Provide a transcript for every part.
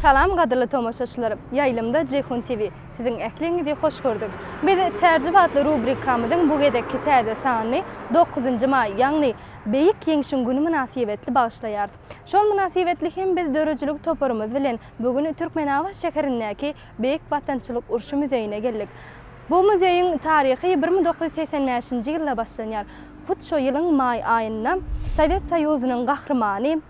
Salam gadyrly tomaşaçylar! Ýaýlymda Jeýhun TV. Siziň ähliňizi hoş gördük. Biz Çärjew atly rubrikamyzyň bu gezekki täze sanyny dokuzynjy maý, ýagny Beýik Ýeňşiň güni mynasybetli bagyşlaýarys. Şol mynasybetli hem biz döredijilik toparymyz bilen bu gün Türkmenabat şäherindäki Beýik Watançylyk urşy muzeýine geldik. Bu muzeýiň taryhy bir müň dokuz ýüz segsen bäşinji ýylda başlanýar. Hut şo ýylyň maý aýynda Sowet Soýuzynyň gahrymany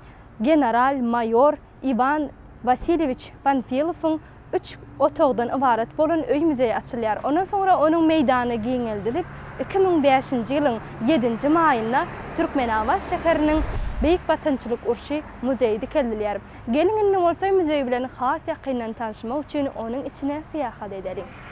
general-maýor Iwan Wasilýewiç Panfilowyň Üç otagdan ybarat bolan öý muzeý açylýar. Ondan soňra onuň meýdany giňeldilip, iki müň bäşinji ýylyň ýedinji maýynda Türkmenabat şäheriniň Beýik Watançylyk urşy muzeýi dikeldilýär. Geliň indi bolsa muzeý bilen has ýakyndan tanşmak üçin onuň içine syýahat edeliň.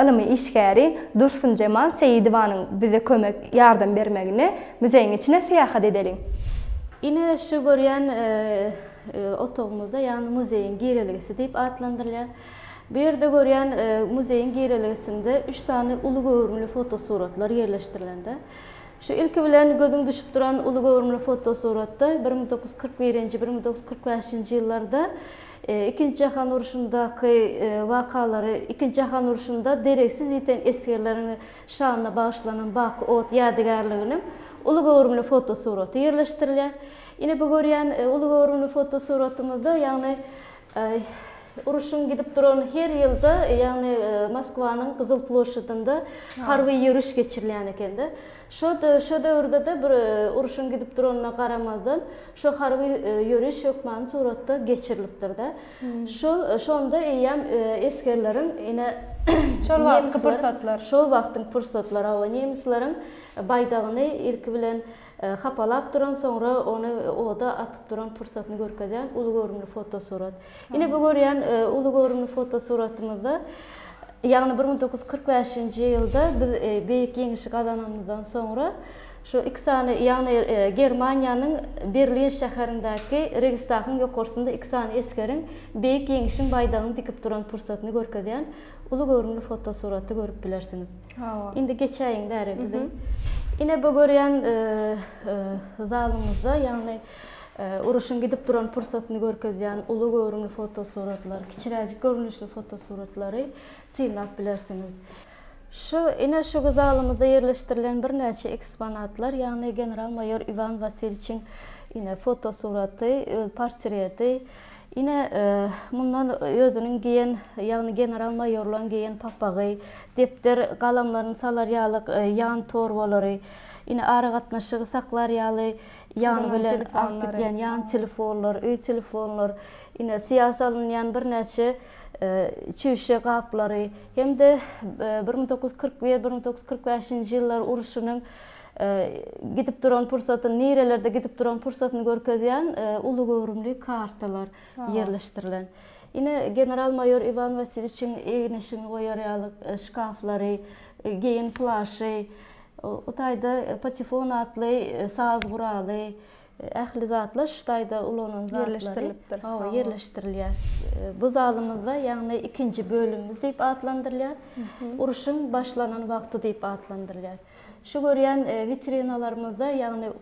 Ylmy işgäri Dursunjemal Seýidowanyň bize kömek, ýardam bermegine muzeýiň içine syýahat edeliň. Ine, şu görýän otagymyzda, ýagny muzeýiň girelgesi diýip atlandyrylýar. Bu ýerde görýän muzeýiň girelgesinde üç sany uly göwrümli fotosuratlar ýerleşdirilende, şu ilki bilen gözüň düşüp duran uly göwrümli fotosuratda bir müň dokuz ýüz kyrk birinji, bir müň dokuz ýüz kyrk bäşinji ýyllarda Ikinji jahan urşundaky wakalary Ikinji jahan urşunda deregsiz ýiten esgerleriň şanyna bagyşlanan Baky ot ýadygärliginiň uly göwrümli fotosuraty ýerleşdirilýär. Ine bu görýän uly göwrümli fotosuratymyzda ýagny urşuň gidip duran her ýylda ýagny Moskwanyň Gyzyl ploşadynda harby ýöriş geçirilýän eken-de. Şo döwürde-de bir urşuň gidip duranyna garamazdan Şu harby ýöriş hökmany suratda geçirilipdir-de. Şol, şonda eýýäm esgerleriň ine, Şol wagtky pursatlar. Şol wagtyň pursatlary, hawa, nemisleriň baýdagyny ilki bilen hapalap duran, soňra ony oda atyp duran pursatyny görkezýän uly göwrümli fotosurat. Ine, bu görýän uly göwrümli fotosuratymyzda, ýagny bir müň dokuz ýüz kyrk bäşinji ýylda biz Beýik Ýeňişi gazananymyzdan soňra, Şu iki sany, ýagny Germaniýanyň Berlin şäherindäki Registagyň ýokarsynda iki sany esgeriň Beýik Ýeňişiň baýdagyny dikip duran pursatyny görkezýän uly göwrümli fotosuraty görüp bilersiňiz. Indi geçäýiň bäri biziň ine bu görýän zalymyzda, ýagny uruşyň gidip duran pursatyny görkezýän uly göwrümli fotosuratlar, kiçiräjik görnüşli fotosuratlary synlap bilersiňiz. Şu, ine şu zalymyzda ýerleşdirilen birnäçe eksponatlar, ýagny general-maýor Iwan Wasilçiň, ine, fotosuraty, öz portreti, ine, mundan özüniň geýen, ýagny general-maýorlaryň geýen papagy, depder, galamlaryny salar ýalyk ýan torbalary, ine, aragatnaşygy saklar ýaly ýan bilen alyp gidýän ýan telefonlar, öý telefonlar, ine, syýa salynýan birnäçe. çüýşe gaplary hem-de bir müň dokuz ýüz kyrk bir, bir müň dokuz ýüz kyrk bäşinji ýyllar urşunyň gidip duran pursatyny, nirelerde gidip duran pursatyny görkezýän uly göwrümli kartalar ýerleşdirilen. Ine, general-maýor Iwan Wasilýewiçiň eginişini goýar ýaly şkaflary, geýim plaşy, o taýda patefon atly saz guraly, Ähli zatlar şu taýda ulanan zatlary Ýerleşdirilipdir. Hawa, ýerleşdirilýär. Bu zalymyzda, ýagny ikinji bölümimiz diýip atlandyrylýar. Urşuň başlanan wagty diýip atlandyrylýar. Şu görýän witrinalarymyzda, ýagny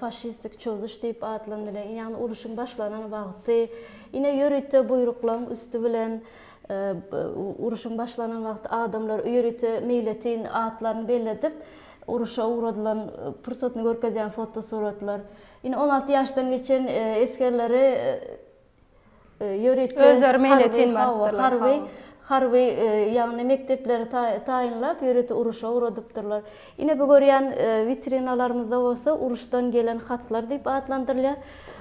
faşistik çozuş diýip atlandyrylýar, ýagny urşuň başlanan wagty, ine ýörite buýruklaryň üsti bilen urşuň başlanan wagty adamlar ýörite meýletin atlaryny belledip, uruşa ugradylan pursatyny görkezýän fotosuratlar, ine on alty ýaşdan geçen esgerleri ýörite Özleri meýletin barypdyrlar. Harby, harby, ýagny mekdepleri taýynlap ýörite uruşa ugradypdyrlar. Ine bu görýän witrinalarymyzda bolsa uruşdan gelen hatlar diýip atlandyrylýar.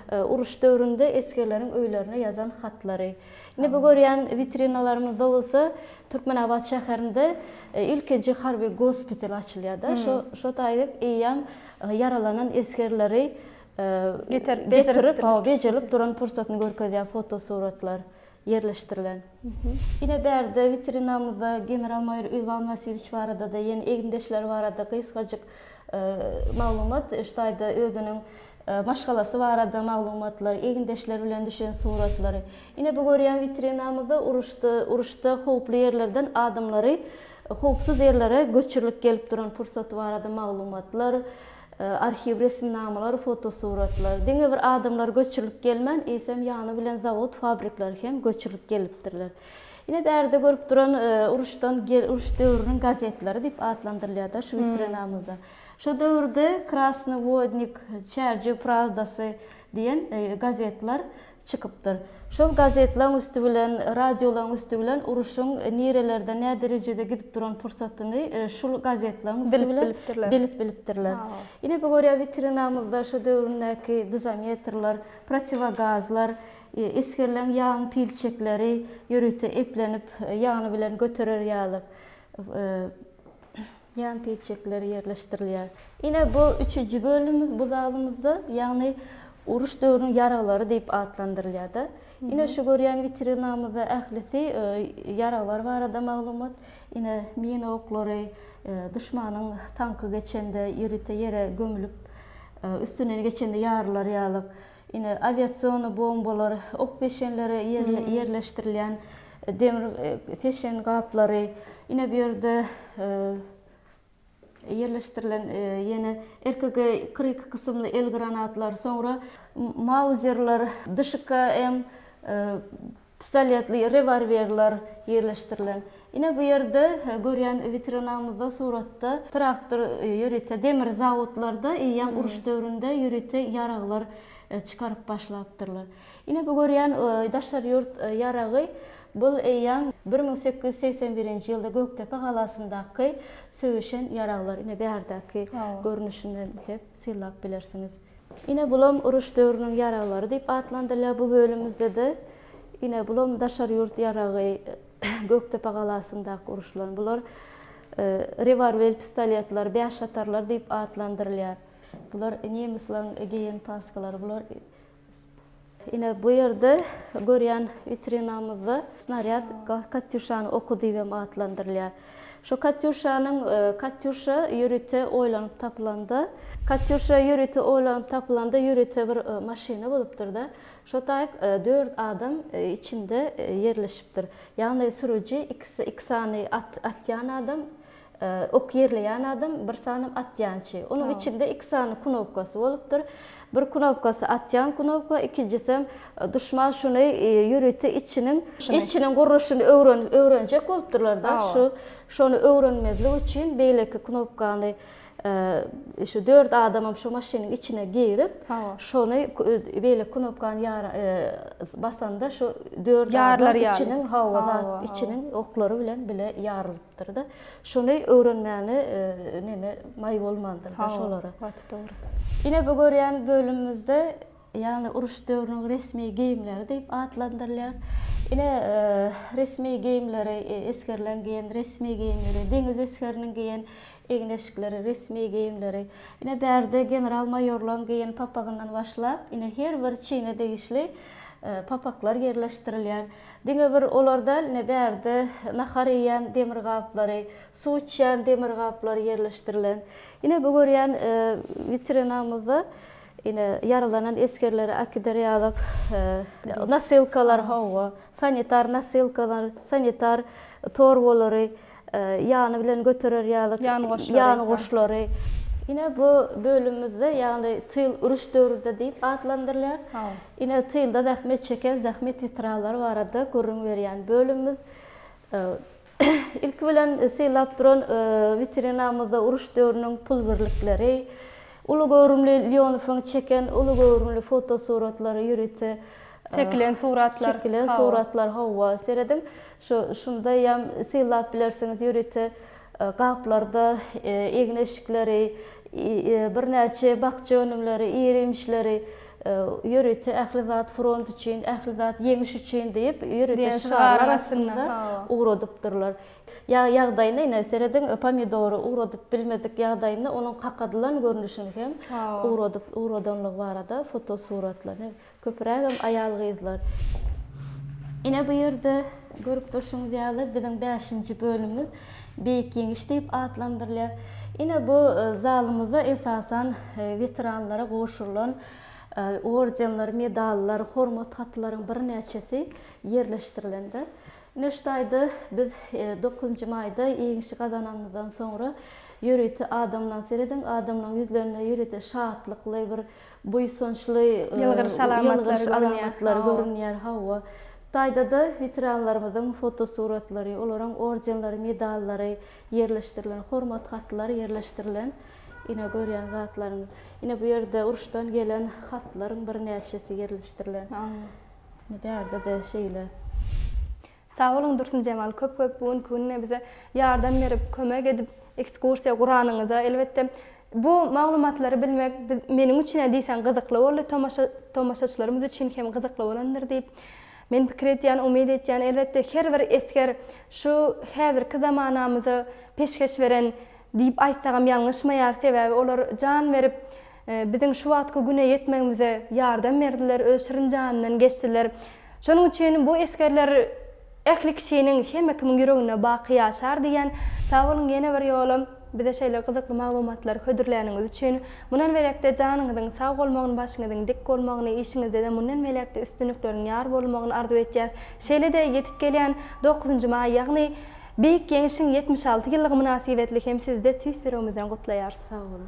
Uruş döwründe esgerleriň öýlerine ýazan hatlary. Indi bu görýän witrinalarymyzda bolsa Türkmenabat şäherinde ilkinji harby gospital açylýar-da. Şo şo taýda eýýäm ýaralanan esgerleri getirip bejerip bejerlip duran pursatyny görkezýär fotosuratlar ýerleşdirilen. Ine bärde witrinamyzda general maýor Iwan Wasilýewiç barada-da, ýene egindeşleri barada gysgajyk maglumat şu taýda özüniň maşgalasy barada maglumatlar, egindeşleri bilen düşen suratlary. Ine bu görýän witrinamyzda uruşda uruşda howply ýerlerden adamlary howpsuz ýerlere göçürilip gelip duran pursaty barada maglumatlar, arhiw resminamalar, fotosuratlar. Diňe bir adamlar göçürilip gelmän, eýsem ýany bilen zawod, fabrikler hem göçürilip gelipdirler. Ine bärde görüp duran uruşdan uruş döwrüniň gazetleri diýip atlandyrylýar-da şu witrinamyzda. Şo döwürde Krasnyý wodnik, Çärjew prawdasy diýen gazetler çykypdyr. Şol gazetlaň üsti bilen, radiolaň üsti bilen uruşyň nirelerde, nä derejede gidip duran pursatyny şul gazetlaň üsti bilen bilip bilipdirler. Ine, bu görýä witrinamyzda şo döwründäki dozometrler, protiwogazlar, esgerleň ýagyň pilçekleri ýörite eplenip, ýagny bilen göterer ýaly. Ýan tilçekleri ýerleşdirilýär. Ine, bu üçüji bölümimiz bu zalymyzda, ýagny uruş döwrüniň ýaraglary diýip atlandyrylýar-da. Ine, şu görýän witrinamyzda ählisi ýaraglar barada maglumat. Ine, mina oklary, duşmanyň tanky geçende ýörite ýere gömülip, üstünden geçende ýarylar ýaly. Ine, awiasion bombalar, ok peşenleri ýerleşdirilýän demir peşen gaplary. Ine, bu ýerde ýerleşdirilen ýene RKG kyrk iki kysymly el granatlar, soňra mauzerler, DŞKM pistoletli rewolwerler ýerleşdirilen. Ine bu ýerde görýän witrinamyzda suratda traktor ýörite demir zawodlarda eýýäm uruş döwründe ýörite ýaraglar çykaryp başlapdyrlar. Ine bu görýän daşary ýurt ýaragy bul eýýäm bir müň sekiz ýüz segsen birinji ýylda Gökdepe galasyndaky söweşen ýaraglar. Ine bärdäki görnüşinden hem synlap bilersiňiz. Ine bulam uruş döwrüniň ýaraglary diýip atlandyrylýar bu bölümimizdede ine bulam daşary ýurt ýaragy Gökdepe galasyndaky uruşylan bular rewarwel pistoletler bäş atarlar diýip atlandyrylýar. Bular nemislaň geýen paskalary bular Ine, bu ýerde görýän witrinamyzda snarýad Katýuşany oky diýip hem atlandyrylýar. Şu Katýuşanyň Katýuşa ýörite oýlanyp tapylanda, Katýuşa ýörite oýlanyp tapylanda ýörite bir maşyna bolupdyr-da, şo taýyk dört adam içinde ýerleşipdir. Ýagny sürüji, iki sany at atýan adam, Ok ýerleýän adam, bir sany atýançy. Onuň içinde iki sany knopkasy bolupdyr. Bir knopkasy atýan knopka, ikinjisem duşman şuny ýörite içiniň içiniň gurluşyny öwrenjek bolupdyrlar-da, şu şony öwrenmezlik üçin beýleki knopkany şu dört adamam şu maşynyň içine girip, şony beýleki knopkany basanda şu dört adam içiniň hawa zat içiniň oklary bilen bile ýarylypdyr. Dyrda şuny öwrenmäne neme maý bolmandyr da şolara. Hawa, gaty dogry. Ine bu görýän bölümimizde ýagny uruş döwrüniň resmi geýimleri diýip atlandyrylýar. Ine resmi geýimleri esgerleň geýen resmi geýimleri, deňiz esgeriniň geýen egin-eşikleri, resmi geýimleri. Ine bärde general maýorlaň geýen papagyndan başlap ine her bir çine degişli papaklar ýerleşdirilýär. Diňe bir olar däl, ine, bärde nahar iýýän demir gaplary, suw içýän demir gaplary ýerleşdirilen. Ine, bu görýän witrinamyzda, ine, ýaralanan esgerlere äkider ýalyk nosilkalar, hawa, sanitar nosilkalar, sanitar torbalary, ýany bilen göterer ýaly ýangoşlary. Ine bu bölümimizde ýagny tyl uruş döwründe diýip atlandyrylýar. Ine tylda zähmet çeken zähmet weteranlary barada gürrüň berýän bölümimiz. Ilki bilen sylap duran witrinamyzda uruş döwrüniň pul birlikleri, uly göwrümli Lýonowyň çeken uly göwrümli fotosuratlary ýörite çekilen suratlar, çekilen suratlar, hawa, serediň. Şu şundaýam sylap bilersiňiz ýörite gaplarda egin-eşikleri, birnäçe bakja önümleri, ir-iýmişleri, ýörite Ähli zat front üçin, Ähli zat ýeňiş üçin diýip ýörite şygarlar astynda ugradypdyrlar. Ýa ýagdaýyna ine serediň pomidory ugradyp bilmedik ýagdaýynda onuň kakadylan görnüşini hem ugradyp ugradanlygy barada fotosuratlar. Köpürägem aýal-gyzlar. Ine bu ýerde görüp durşuňyz ýaly biziň bäşinji bölümimiz Beýik Ýeňiş diýip atlandyrylýar. Ine bu zalymyzda esasan weteranlara gowşurylan ordenler, medallar, hormat hatlaryň birnäçesi ýerleşdirilendir. Ine şu taýda biz dokuzynjy maýda Ýeňişi gazananymyzdan soňra ýörite adamlaň serediň, adamlaň ýüzlerinde ýörite şatlykly bir Buýsançly ýylgyryş alamatlary görünýär, hawa. Taýda-da weteranlarymyzyň fotosuratlary, olaryň ordenleri, medallary ýerleşdirilen, hormat hatlary ýerleşdirilen. Ine, görýän zatlaryňyz. Ine, bu ýerde uruşdan gelen hatlaryň birnäçesi ýerleşdirilen. Ine, bärde-de şeýle. Sag boluň Dursunjemal köp köp bu günki günde bize ýardam berip kömek edip ekskursiýa guranyňyza elbetde bu maglumatlary bilmek meniň üçine diýseň gyzykly boldy tomaşa tomaşaçylarymyz üçin hem gyzykly bolandyr diýip men pikir edýän umyt etýän elbetde her bir esger şu häzirki zamanamyza peşgeş beren diýip aýtsagam ýalňyşmaýar sebäbi olar jan berip biziň şu wagtky güne ýetmegimize ýardam berdiler öz şirin janyndan geçdiler Şonuň üçin bu esgerler Ähli kişiniň, hemme kimiň ýüreginde baky ýaşar diýýän. Sag boluň ýene bir ýolam bize şeýle gyzykly maglumatlary hödürläniňiz üçin. Mundan beýläkde janyňyzyň sag bolmagyny başyňyzyň dik bolmagyny işiňizdede mundan beýläkde üstünlikleriň ýar bolmagyny arzuw etýäs. Şeýlede ýetip gelýän dokuzynjy maý ýagny Beýik Ýeňişiň ýetmiş alty ýyllygy mynasybetli hem sizde tüýs ýüregimizden gutlaýarys. Sag boluň.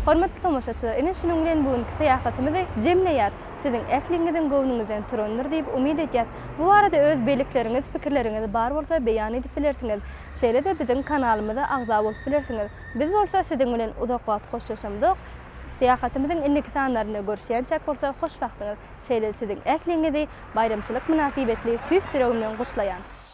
Hormatly tomaşaçylar, ine şunuň bilen bu günki syýahatymyzy jemleýäris. Siziň ähliňiziň göwnüňizden turandyr diýip umyt edýäs. Bu barada öz bellikleriňiz, pikirleriňiz bar bolsa beýan edip bilersiňiz. Şeýle-de biziň kanalymyza agza bolup bilersiňiz. Biz bolsa siziň bilen uzak wagt hoşlaşamzok. Syýahatymyzyň indiki sanlarynda görüşýänçäk bolsa hoşbagtyňyz. Şeýle-de siziň ähliňizi baýramçylyk mynasybetli tüýs ýüregimden gutlaýan.